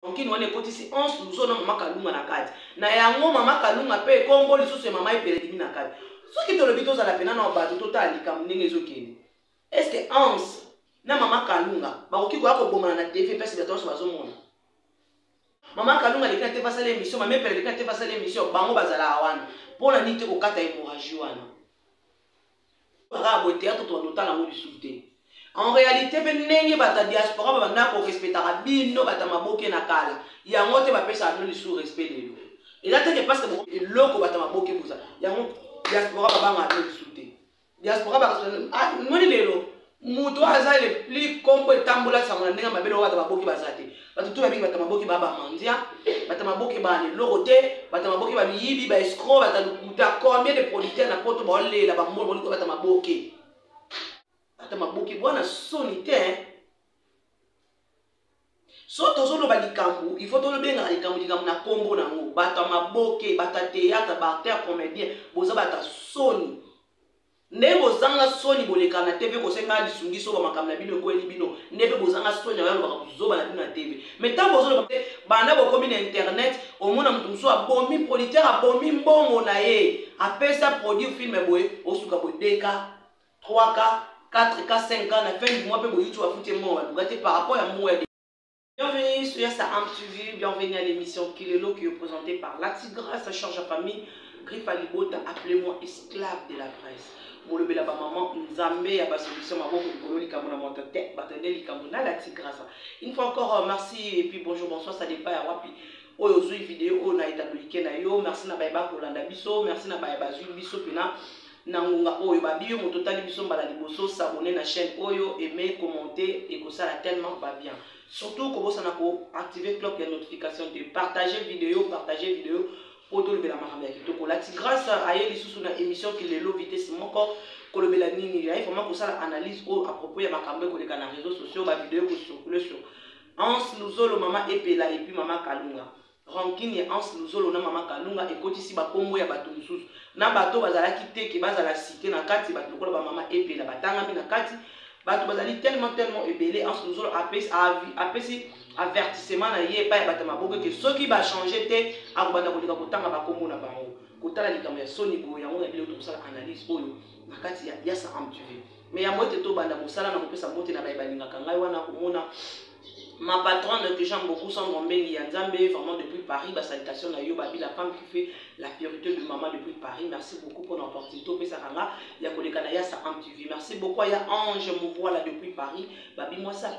Onkini wana ekotisi 11 luzo na mama kalunga na kati na yango mama kalunga mpe ekombo lisusu ya mama epele elimi na kati soki tolobi tozala mpena na bato totala likambo ndenge ezokende eske anse na mama kalunga bakoki koya kobomana na tv mpesi bato nyonso bazomona mama kalunga aleki na te basala emission mama epele aleki na te basala emission bango bazalaka wana mpo na nini te kokata emoragie wana kaka boye théâtre tokando otala yango lisusu te en réalité mpe ndenge bato ya diaspora babanda korespetaka bino bato ya maboke na kala yango te bapesaka bino lisusu respect lelo eza teke parce que eloko bato ya maboke boza yango diaspora babangaka bino lisusu te diaspora bakamoni ah, lelo moto oyo aza le plus kombo etambola sango na ndenge ya mabele oyo bato baboki baza te bato to babiki bato maboki ba bamandia bato maboki bana eloko te bato maboki bamiyibi baescro bato lokuta combien de producteur na poto baolela bamoi boniko bato maboki bato maboki bwana soni te so tozoloba likambo il faut tolobengaka likambo likambo na nkombo na yango bato ya maboke bato ya théâtre baacteur comédien boza bato ya soni Nde bozanga soni boleka na TV kosenga lisungi soba makambo na bino ekweli bino nde mpe bozanga soni yango alobaka buzoba na bino na TV me ntango bozoloba mpe banda bokomi na internet omona moto mosusu abomi producteur abomi mbongo na ye apesa produire filme boye osuka boye 2k 3k 4k 5k na fin du mois mpe boyuti bafuti mbongo baluka te par rapport ya mbongo ya Bienvenue sur Yassa Am TV, bienvenue à l'émission Kilelo qui est présentée par La Tigresse, sa charge à famille, Griffe à Libota, appelez-moi esclave de la presse. molobela bamama nzambe ya basolution maboko likolo likambo na moto te bato nde likambo na la tigrasa une fois encore euh, merci et puis bonjour bonsoir ça dépend ya wapi oyo ozwi video oyo na etablike na yo merci na baye bakolanda biso merci na baye bazwi biso mpena na ngonga oyo babi yo moto otali biso mbala liboso sabone na chaîne oyo aime commente ekosala tellement ba bien surtout kobosana ko activer clock ya notification te partager video partager video mpo tolobela makambo ya kitoko lati grâce aye lisusu na émission kilelo vitesse moko kolobela nini yaye vraiment kosala analyse oyo à propos ya makambo ekoleka na réseau sociaux bavideo ekosukule sur anse luzolo mama epela epuis mama kalunga Rancune ya Hans Luzolo na Mama Kalunga ekotisi ba kombo ya bato mosusu na bato oyo bazalaki te ke bazala cite na kati, bato lokola ba Mama Epela batangami na kati. Bato bazali tellement tellement ebele, Hans Luzolo apesi apesi avertissement na ye epai ya bato ya maboko ete soki ba changer te akobanda koleka kotanga ba kombo na bango. Kotala likambo ya soni boye, yango na biloko tokosala analyse oyo na kati ya Yasa Amtuve. Mais yambo ete tobanda mosala, nakopesa mbote na baye balingaka ngai wana komona Ma patronne que j'aime beaucoup sans Mombeli ya Nzambe vraiment depuis Paris ba salutations na yo babi la femme qui fait la purité de maman depuis Paris merci beaucoup pour l'opportunité opesa kanga ya koleka na ya sa am TV merci beaucoup ya Ange Movoila depuis Paris babi moi ça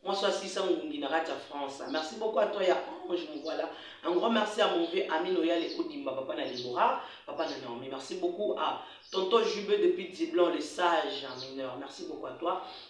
moi soit 600 ngungi na kati ya France merci beaucoup à toi ya Ange Movoila un grand merci à mon vieux Amine Oyale Odimba papa na Libora papa na Naomi merci beaucoup à Tonton Jubé depuis Diblon le sage mineur merci beaucoup à toi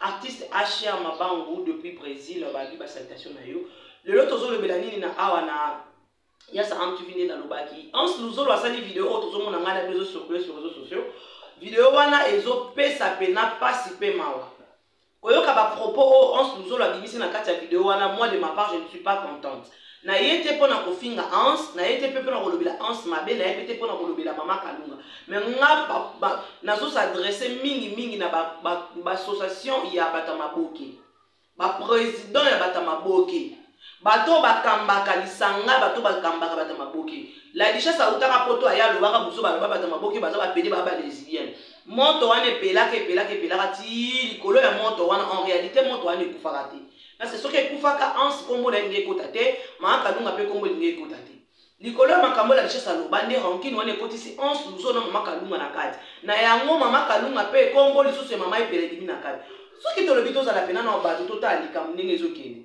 Artiste HR Mabangu depuis Brésil babi ba salutation na yo. Lelo tozolobela nini na awa na yasa amtuvi nde nalobaki hans luzolo asali video oyo tozomona ngai na bino ezosokole sur réseau sociaux video wana ezopesa mpena mpasi mpe mawa koyoka bapropos oyo hans luzolo abimisi na kati ya video wana moi de ma part je ne suis pas contente na ye te mpo na kofinga Hans na ye te mpe mpo na kolobela Hans mabe na ye mpe te mpo na kolobela mama Kalunga me nga nazosadresse mingi mingi na baassociation ba, ba ya bato ya maboke baprésident ya bato ya maboke bato oyo bakambaka lisanga bato bakambaka bato ya maboke ladishas autaka poto aye alobaka buzo baloba bato ya maboke baza bapede baa balesbienne moto wana epelaka epelaka epelaka ti likolo ya moto wana en réalité moto wana ekufaka te Parce que soki ekufaka Hans kombo na ye lingi ekota te, Maa Kalunga mpe kombo lingi ekota te. Likolo ya makambo la richesse aloba nde rancune wana ekotisi Hans Luzo na mama Kalunga na kati. Na yango mama Kalunga mpe kombo lisusu ya mama epele ebimi na kati. Soki tolobi tozala pena na bato totala likambo ndenge ezokende.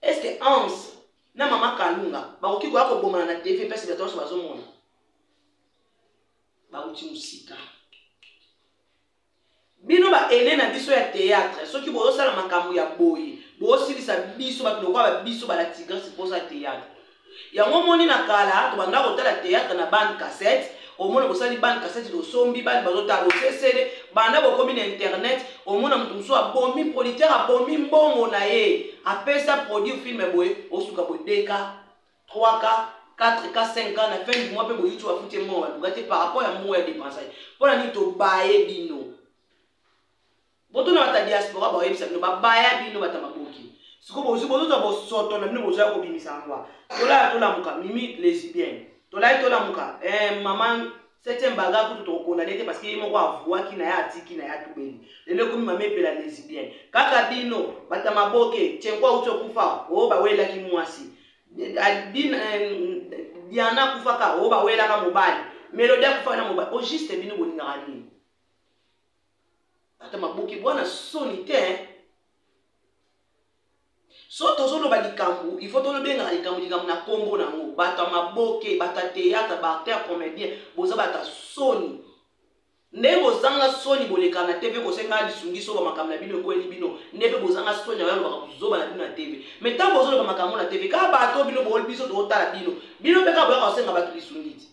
Est-ce que Hans na mama Kalunga bakoki koya kobomana na TV mpe bato nyonso bazomona? Bauti mosika. bino ba aine na biso ya théâtre soki bozosala makambo ya boye bosilisa biso bato lokola ba biso bala tigrese mposa théâtre yango omoni na kala tobanda kotala théâtre na bande cassette omona bosali bande cassette tosombi bande bazotala bosesele banda bokomi na internet omona moto mosusu abomi producteur abomi mbongo na ye apesa produit film boye osuka bodeka 3 cas 4 cas 5 cas na fin du mois mpe boyuti bafuti ye mbongo baluka te par rapport ya mbongo ya dépense ye mpo na nini tobaye bino botuna bata diaspora baoyebisa bino babaya bino bata maboki sikoyo bozwi bozozwa bosoto na bino bozwa ya kobimisa yango tolaya tolamuka mimi lesbienne tolai tolamuka eh, mama Septième banga kutu toko condamner te parce que ye moko avuaki na ya atiki na ya tubeli. Lelo ekomi mama epela lesbienne. Kaka bino bata maboke tchenko auti okufa o oh, bawelaki mwasi. Diana akufaka o oh, bawelaka mobali. Melodie akufaka na mobali. O oh, juste bino bolingaka nini? Bata maboke bwana soni te. so tozoloba likambo il faut tolobengaka likambo likambo na nkombo na yango bato ya maboke bato ya théâtre baacteur comédien boza bato ya soni ndenge bozanga soni bolekana na tv kosenga lisungi soba makambo na bino ekweli bino nde mpe bozanga soni na yalobaka kozoba na bino na tv me ntango bozoloba makambo na tv kaka bato bino booli biso totala bino bino mpe kaka boyaka kosenga bato lisungi ti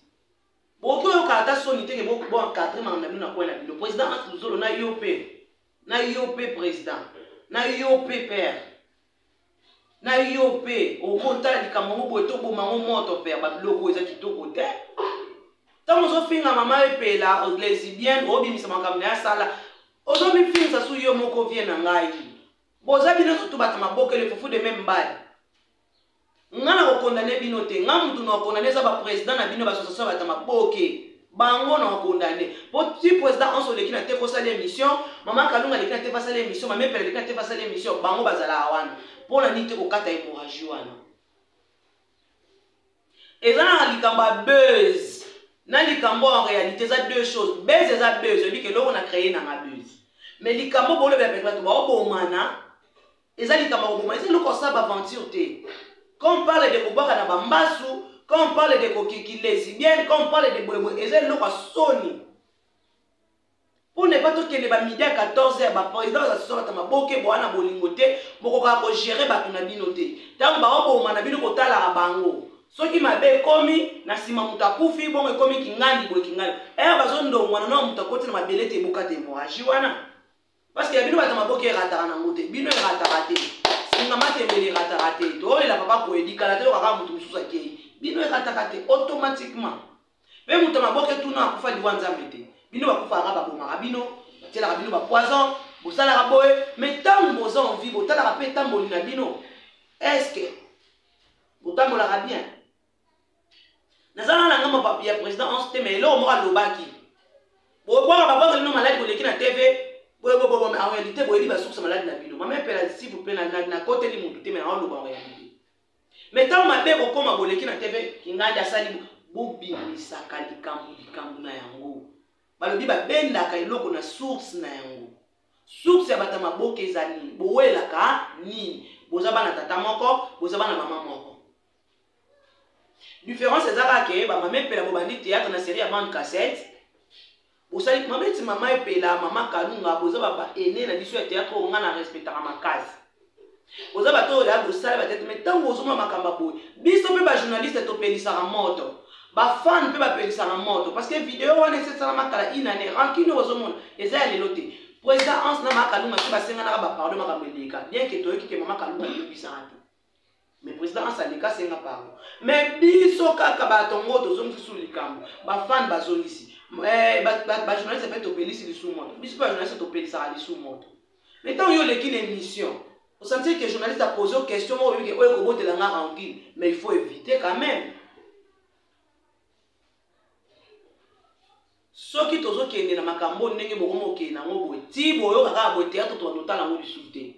bokoki oyoka ata soni te ke boencadre makambo na bino na kwai na bino président masluzolo na yo mpe na yo mpe president na yo mpe père na yo mpe okotala likambo yango boye toboma yango moto père babiloko eza kitoko te ntango ozofinga mama epela lesibienne obimisa makambo na ye asala ozomifingisa su yo moko vie na ngai boza bino zotubatama bokele fufu de meme mbali nga na kokondane bino te nga mutu na kokondane eza bapresident na bino basosasio bata maboke bango na kokondane po ti president onso oleki na te kosala émission mama kalunga aleki na te fasala émission mamepele aleki na te fasala émission bango bazalaka wana mpo na nini te kokata hémorragie wana eza na likambo ya buzz na likambo en réalité eza deux choses buzz eza buzz oyebi ke eloko na créer nanga buzz mais likambo bolobela bato baobomana eza likambo ya koboma eza eloko osala baaventure te quand on parle de kobwaka na bambasu quand on parle de kokiki lesibienne quand on parle de boyeboye eza eloko ya soni mpo na epa tokende bamidi ya 14 ya baprésident oyo asosolaka maboke boa na bolingo te bokokaka kogere bato na bino te ntango baoboma na bino kotalaka bango soki mabe ekomi na nsima moto akufi bongo ekomi kingandi boye kingandi ere eh, bazondongwana na moto akoti na mabele te ebokata emoraji wana Parce que bino bato maboke erataka na ngote, bino erataka te. Singa matembele erataka te. Tolela papa koyedi kala te lokaka moto mosusu akei. Bino erataka te automatiquement. Mpe moto maboke tuna akufa liwa nzambe te. Bino bakufaka babomaka bino, batielaka bino bapoison, bosalaka boye, mais ntango boza en vie botalaka mpe etamboli na bino. Est-ce que botambolaka bien? naza na nanga mapapi ya président onse te ma eloko moko alobaki bobwaka papa ozali no maladi koleki na tv boyebobobo en réalité boyebi basukusa maladi na bino mama epela s'il vous plaît nakoteli motu te mai naoloba en réalité mai ntango mabe kokoma boleki na tv kingandi asali bobimisaka likambo likambo na yango balobi babendaka eloko na source na yango source ya bato ya maboka eza nini bowelaka nini boza bana tata moko boza bana mama moko Différence eza kaka ke ba mama epela bobandi théâtre na série ya bande cassette. Bosali mama eti mama epela mama kalunga boza ba ba aîné na biso ya théâtre oyo nga na respectaka makasi. Boza bato oyo ya bosala ba tete mais tango ozoma makambo ya boye biso mpe ba journaliste topelisaka moto. Ba fan mpe bapelisaka moto parce que video wana esesalama kala une année rancune ozomona eza ya lelo te. Président Hans na mama kalunga mpe basenganaka ba pardon makambo eleka bien ke toyoki ke mama kalunga ayebisaka te. me président asandika asenga pardon me biso kaka bato yango tozongisi su likambo bafane bazongisi eh, bajournaliste mpe topelisi lisu moto biso mpe bajournaliste topelisaka lisu moto me ntango yo oleki na émission osantiri ke journaliste apose question moko oyoki oyo ekobotela nga rancune mais il faut éviter quand même soki tozokende na makambo oyo ndenge bokomi okende nango boye ti boyoka kaka boye teyatre tobanda otala yango lisusu te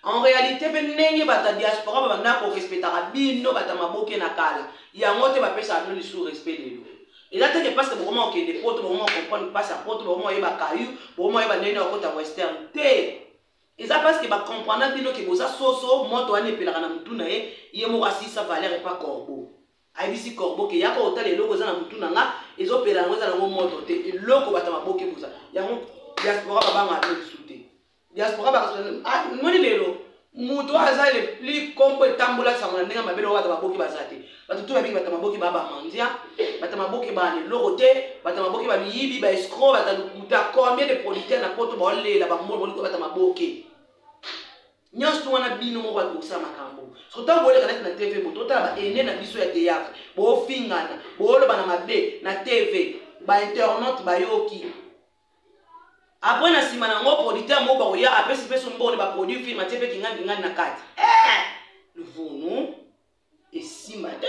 en réalité mpe ndenge bato ya diaspora babanda korespetaka bino bato ya maboke na kala yango te bapesaka bino lisusu respect lelo eza te ke parce que bokoma kokende poto bokoma comprendre mpasi ya poto bokoma oyeba kayu bokoma oyeba ndenge na okota western te eza parce que bacomprendra bino ke boza soso moto wana epelaka na motu na ye ye moko asisa valeur epa corbeau Ayebisi corbeau ke yaka otala eloko eza na mutu na nga ezo pela yango eza na ngo moto te eloko bata maboke boza yango diaspora babanga ate bisu te diaspora bakasona ah, moni lelo moto aza le plus kombo etambola sango na ndenge mabele oyo bato baboki baza te bato to babiki bato maboki ba bamandia bato maboki ba leloko te bato maboki ba miyibi ba escro bato lokuta combien de producteur na poto baolela bambolo bolikoyo bato maboke nyonso to wana bino moko bato kosala makambo soki ntango boleka neti na tv moto otala baene na biso ya théâtre bofingana bolobana mabe na tv bainternaute bayoki apres na nsima na yango producteur moko bakoya apesi mpe sombone baproduit film atie mpe kingani kingani na kati eh! luvunu esimba te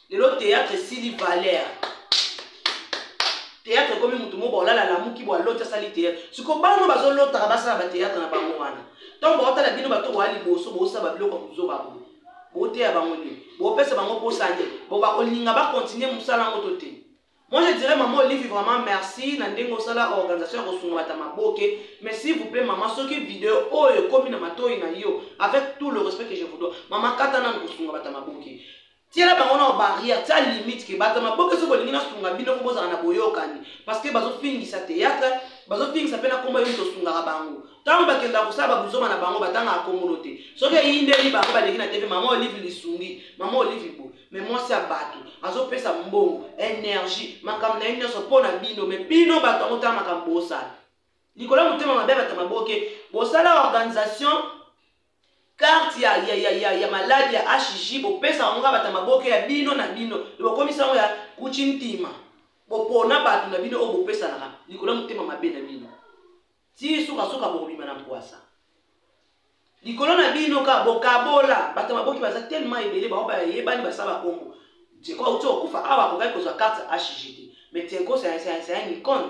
lelo théâtre esili valeur théâtre ekomi motu moko baolala alamuki bo aloti asali théâtre siko bano bazolotaka basala bathéâtre na bango wana ntango baotala bino bato boya liboso bosala babiloko ya kozoba bo boteya bango nini bopesa bango posa nde bo bakolinga bakontinue mosala yango to te moi je dirais mama olive vraiment merci na ndenge osala organisation ya kosunga bata maboke mais s'il vous plaît mama soki video oyo ekomi na matoi na yo avec tout le respect que je vous dois mama kata nanu kosunga bata maboke tiela bango na barrière tia limite ke bato ya maboke soki bolingi nasunga bino ko bozala na boyokani parce que bazofingisa théâtre bazofingisa mpe na nkombo yo moto osungaka bango ntango bakenda kosala babuzoma na bango batangaka kongolo te soki eyindeli bango baleki na tv mama olive lisungi mama olive bo me mwasi ya bato azopesa mbongo energie makambo na ye nyonso mpo na bino me bino bato yango tala makambo bosala likolo ya motema mabe ya bato ya maboke bosala organisation carte ya, ya, ya, ya, ya maladi ya hg bopesa yango kaka bato ya maboke ya bino na bino bokomisa yango ya kuchi ntima bopona bato na bino oyo bopesanaka likolo ya motema mabe na bino ti sukasuka bokobima na mpwasa likolo na bino ka bokabola bato ya maboke baza telema ebele bango bayebani basala bakombo tiko auti okufa awa akokaki kozwa karte hg te mais tiko c'est un icone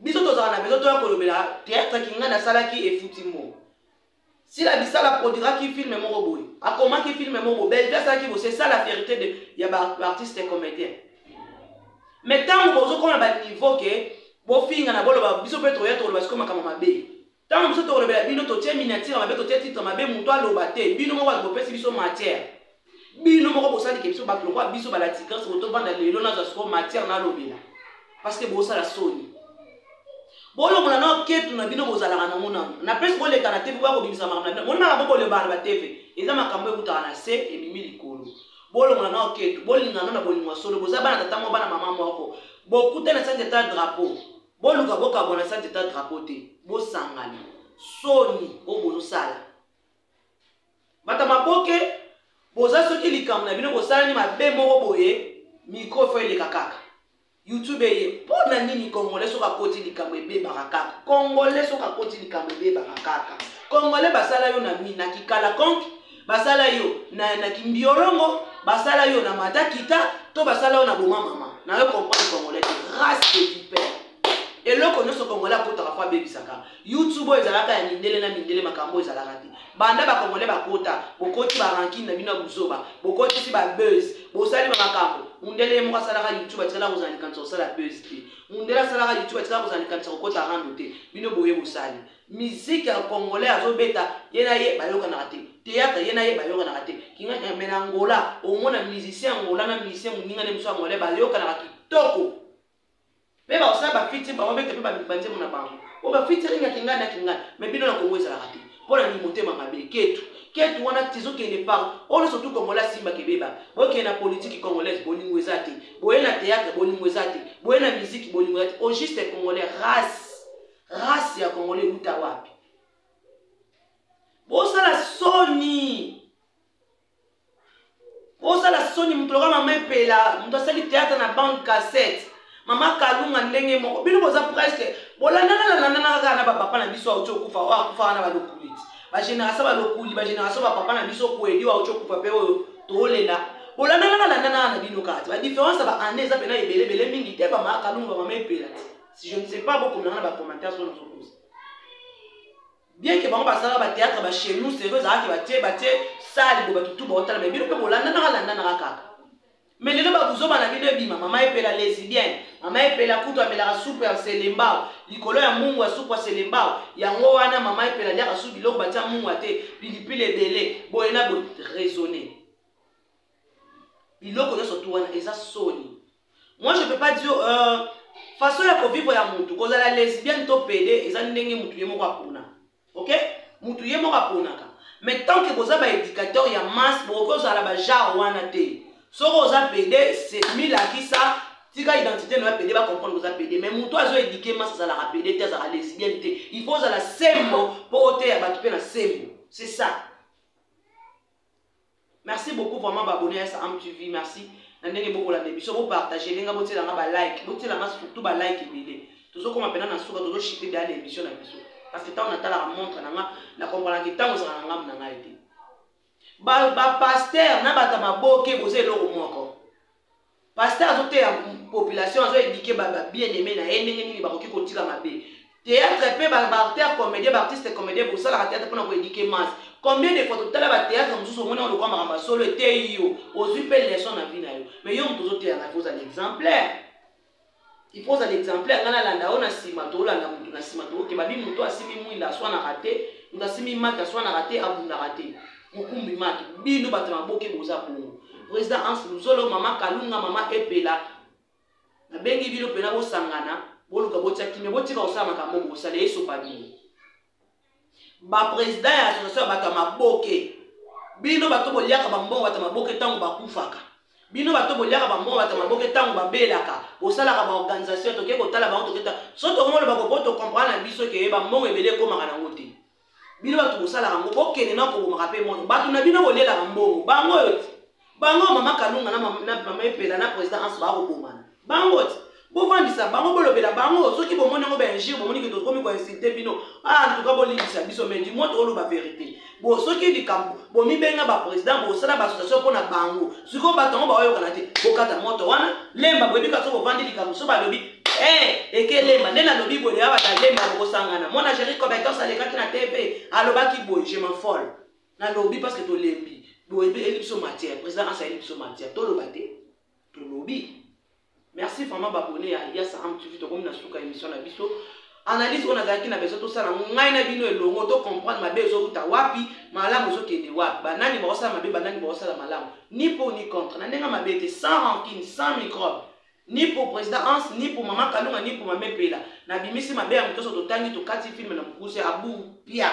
biso tozala na besoin toya kolobela théâtre kinganda asalaki efuti mo sila bisala produiraki filme moko boye akomaki filme moko boye belvi asalaki bo c'est ça la vérité de, ya baartiste ba comédien mais ntango bozokoma baniveau ke bofingana boloba biso mpe toya toloba sikoyo makambo mabe Tango biso tokolobela bino totie miniature mabe totie titre mabe moto aloba te bino moko bato bopesi biso matière bino moko bosalike biso bato lokola biso balati grâce moto ovanda lelo nazwa siko matière nalobela parce que bosala soni bolongola nao ketu na bino bozalaka nango nango na place boleka na tv boya kobimisa makambo na bino moni makambo bolobaka na batv eza makambo ekutaka na se ebimi likolo bolongola nao ketu bolingana na bolingo ya solo boza bana tata moko bana mama moko bokutani na sanza eta drapeau boluka bokabwana sa teta drapeau te bosangana soni oyo bozosala bata maboke boza soki likambo na bino bosalani mabe moko boye mikro fo eleka kaka youtube eye mpo na nini kongole soki akoti likambo ebebaka kaka kongole soki akoti likambo ebebaka kaka kongole basala yo na mina kikala konke basala yo na, na kimbiolongo basala yo na mata kita to basala yo na boma mama nayo comprendre congolais race de vipère eloko nyonso congolais akotaka mpo abebisaka youtube oyo ezalaka ya mindele na mindele makambo oyo ezalaka te banda bacongolais bakota bokoti barankine na bino ya buzoba bokotisi babuse bosali bamakambo mundele ye moko asalaka youtube atikala kozala likanisa kosala buse te mundele asalaka youtube atikala kozala likanisa kokota rando te bino boye bosali musique ya congolais azobeta ye na ye bayokanaka te théâtre ye na ye bayokanaka te kingakina me na angola omona musicien angola na musicien moninga nde mosu angolais bayokanaka kitoko mpe bakosala bafiti bango bete mpe banzembo na bango o bafiti alinga kingani na kingani me bino na kongo ezalaka te mpo na nini motema mabe ketu ketu wana tizokende par oyo nyonso tu kongola simba kebeba bokende na politiki congolaise bolingo eza te boye na théâtre bolingo eza te boye na miziki bolingo eza te au juste congolais race race ya congolais ewuta wapi bosala soni bosala soni moto loka mama epela moto asali théâtre na bande cassette mama kalunga ndenge moko bino boza presque bolandanalandanana kaka na bapapa na biso auti okufa oyo akufa wana balokuli bagénération balokuli bagénération bapapa na biso kueli oyo auti okufa mpe oyo tolela bolandanalandanana na bino kati badiférence ya baannée eza mpena ebeleebele mingi te bamama kalunga bamama epela te si je ne sais pas bokomela na bacommentaire so nazokosa bien ke bango basalaka bateatre ba chez nous sérieux ezalaki batie batie sale bo bato tu baotala me bino mpe bolandanaka landanaka kaka me lelo babuzoba na bino ebima mama epela lesibien mama epela kutu amelaka supu ya selembao likolo ya mungu ya supu ya selembao yango wana mama epela aliaka su biloko batia mungu ya te pilipili ebele boye na boye raisonne biloko nyonso tu wana eza soni moi je peux pas dire euh, façon ya kovivre ya mutu kozala lesbienne to pede eza ndenge mutu ye moko apona ok mutu ye moko aponaka mais tant que boza baéducateur ya masse bokoki ozala bajare wana te soki oza pede milakisa tika identité na yo pede bacomprendre oza pede mais moto azo édike masse azalaka pede te azalaka lesbienne te il faut ozala sembo mpo oteya bato mpe na sembo c'est ça merci beaucoup vraiment baabonne ya saam tv merci na ndenge bokolanda biso bopartage elenga botielanga balike botielanga surtout balike ebele tozokoma mpena na suka tozoshite deya na émission na biso parce que ntango natalaka montre na nga na kompranaki ntango ezalaka na ngambo na ngai te bapaster na bato ya maboke boza eloko moko pasteur azoteya population azo edike babien aime na ye ndenge nini bakoki kotika mabe théâtre mpe baarter comédien baartiste comédien bosalaka théâtre mpona koedike masse combien de fois totala bathéâtre mosusu omoni yango lokwa makambo ya solo eteyi yo ozwi mpe leçon na vie na yo mais yo moto ozoteya na kozala exemplaire il faut ozala exemplaire ngai nalanda yo na nsima tolanda motu na nsima tokokeba bi motu asimi mwinda aswanaka te motu asimi maki aswanaka te abundaka te mokumbi maki bino bato na maboke boza bongo président hans luzolo mama kalunga mama epela nabengi bino mpena bosangana boluka botia kimia botika kosala makambo bosala esopa bino bapresident ya association ya bato ya maboke bino bato boliaka bambongo bato ya maboke ntango bakufaka bino bato boliaka bambongo bato ya maboke ntango babelaka bosalaka baorganisation toke kotala bango toketa so tokongoloba kopo tokomprana na biso keye bambongo ebele ekomaka nango te bino bato bosalaka yango bokende na kobomaka mpe mono bato na bino bolelaka mbongo bango oyo te bango mama kalunga na mama epela na président anso bakobomana bango ti bovandisa bango bolobela bango soki bomoni yango baingire bomoni ke tokomi koinsulte bino antuka ah, bolimbisa biso mai dimo tooloba verité bo soki likambo bomibenga baprésident bosala baassociation mpo na bango sikoyo bato yango baoyokana te bokata moto wana lemba boyebika so bovandi likambo so balobi eh, ekelemba nde nalobi boye awa balemba bokosangana mwana géri compétence alekaki na tv alobaki boye je m'enfolle nalobi parce que tolembi boye mpe eyeli biso matière président asa eyeli biso matière toloba te tolobi merci vraiment babone ya yasa am tv tokomi na suka émission na biso analyse oyo nazalaki na besoin tosala ngai na bino elongo to comprendre mabe ezowuta wapi malamu ezokende wapi banani bakosala mabe banani bakosala malamu ni po ni contre na ndenge mabe te sans rancune sans microbe ni pour président hans ni pour mama kalunga ni pour mame pela nabimisi mabe ya motoso totangi tokati filme na mokuse abu pia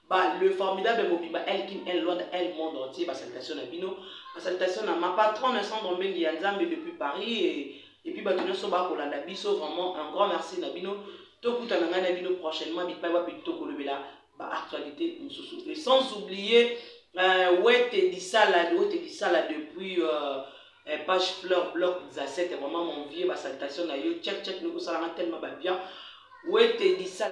ba le formidable mobimba el kin el lwanda el monde entier ba salutation na bino ba salutation na ma patronne sandro mbengi ya nzambe depuis paris et, et puis bato nyonso bakolanda biso vraiment un grand merci na bino tokutana ngai na bino prochainement bipai wapi tokolobela ba actualité mosusu et sans oublier euh, wete disala wete disala depuis euh, eh, page fleur bloc zasete vraiment mon vieux ba salutation na yo check check nokosalanga tellement babien wete disala